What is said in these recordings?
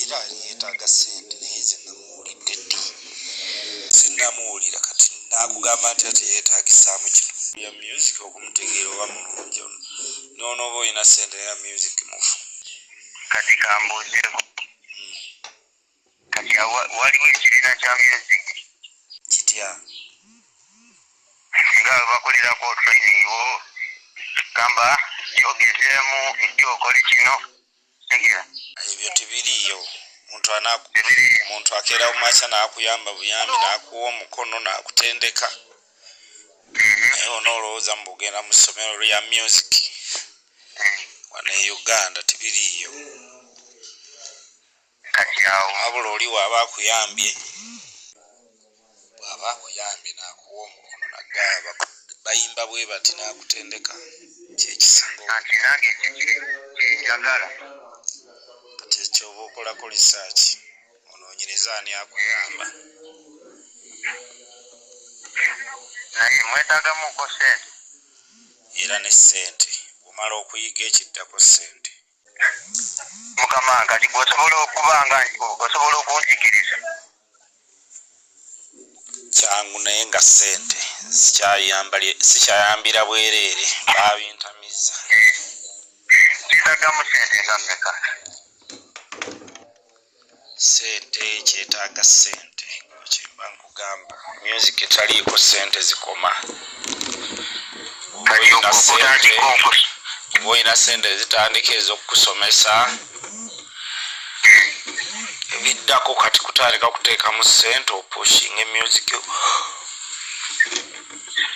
era yetaaga sente naye nze namuwulidde ddi sinamuwulira kati nakugamba nti ati yetagisaamu kino ya music okumutegeera oba mulungi ono nonoba olina sente naye music mufu kati kambuuzeko kati waliwo ekibiina kya music kitya singa bakulirako training wo gamba kyogezeemu ekyokola kino ebyo tebiriyo muntu anaku muntu akera umacha nakuyamba buyambi nakuwa omukono nakutendeka naye ona olowooza mubugenda mu ssomero lya music wano e uganda tebiriyo wabula oli waaba akuyambye bwaba akuyambye nakuwa omukono nagga bayimba bwebati nakutendeka kyekisinga anti nange kyenjagala kati ekyoba okolako research ononyereza ani akuyamba naye mwetagamuko sente era ne sente bwomala okuyiga ekiddako sente mukama kati gwe osobola okuba nga osobola okunjigiriza kyangu naye nga sente sikyayambira bwereere babintamiza eh, zidagamu sente nga meka sente kyetaaga sente kyemba nkugamba music etaliiko sente zikoma olina sente ezitandika ezokukusomesa ebiddako kati kutandika kuteekamu sente opushing emusic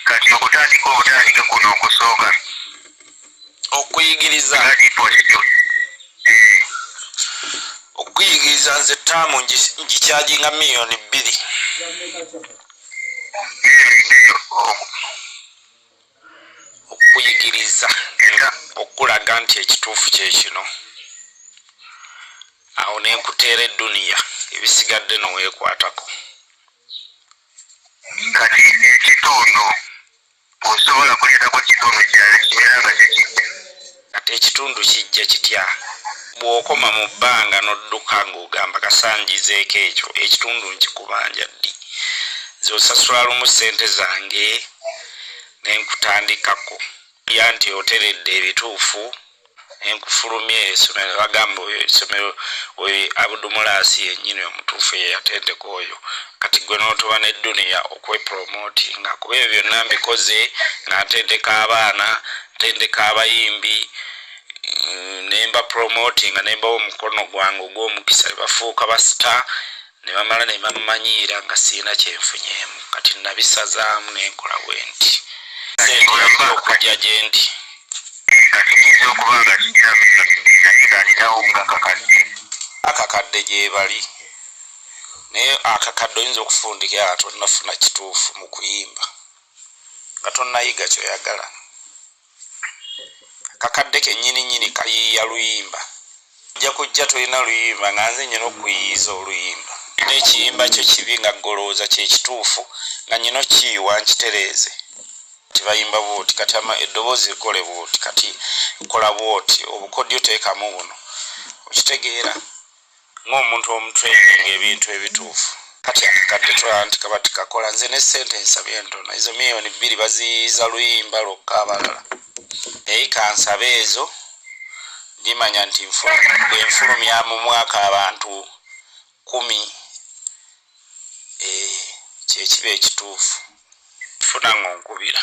kati okutandika obutandike kuno okusooka okuyigiriza okuyigiriza nze taamu ngikyajinga miliyoni bbiri okuyigiriza okulaga nti ekituufu kyekino awo nenkuteera eduniya ebisigadde nowekwatako kati ekitundu osobola kuleetako kitundu kirala kibeera nga tekijja kati ekitundu kijja kitya bw'okoma mu bbanga n'odduka ng'ogamba kasanjizeeko ekyo ekitundu nkikubanja ddi zosasula lumu ssente zange ne nkutandikako ya nti oteredde ebituufu nenkufulumya esomero nebagamba oyo esomero oyo abudumulaasi yenyini omutuufu yeyatendeka oyo kati gwe notoba ne duniya okwepromotinga kuba ebyo byonna mbikoze nga ntendeka abaana ntendeka abayimbi mm, nemba promotinga nembawo omukono gwange ogwomukisa bafuuka basita ne bamala ne bammanyiira nga sirina kyenfunyeemu kati nabisazaamu ne nkola bwe nti seekola okujja gye ndi akakadde gyebali naye akakadde oyinza okufundika a tonnafuna kituufu mu kuyimba nga tonnayiga kyoyagala kakadde kenyini nyini kayiiya luyimba nja kujja tolina luyimba nga nze nyina okuyiiza oluyimba nekiyimba kyo kibi nga golowooza kyekituufu nga nyina okiyiwa nkitereeze kati bayimba bwoti kati ama eddoboozi likole bwoti kati kola bwoti obukodyo teekamu buno okitegeera ng'omuntu omutraining ebintu ebituufu kati akakadde tulaba nti kaba tikakola nze ne sente nsabye entono ezo miyoni bbiri baziyiza luyimba lwokka abalala naye kansabe ezo ndimanya nti enfulumya mu mwaka abantu kumi eh, kyekiba ekituufu funa ngaonkubira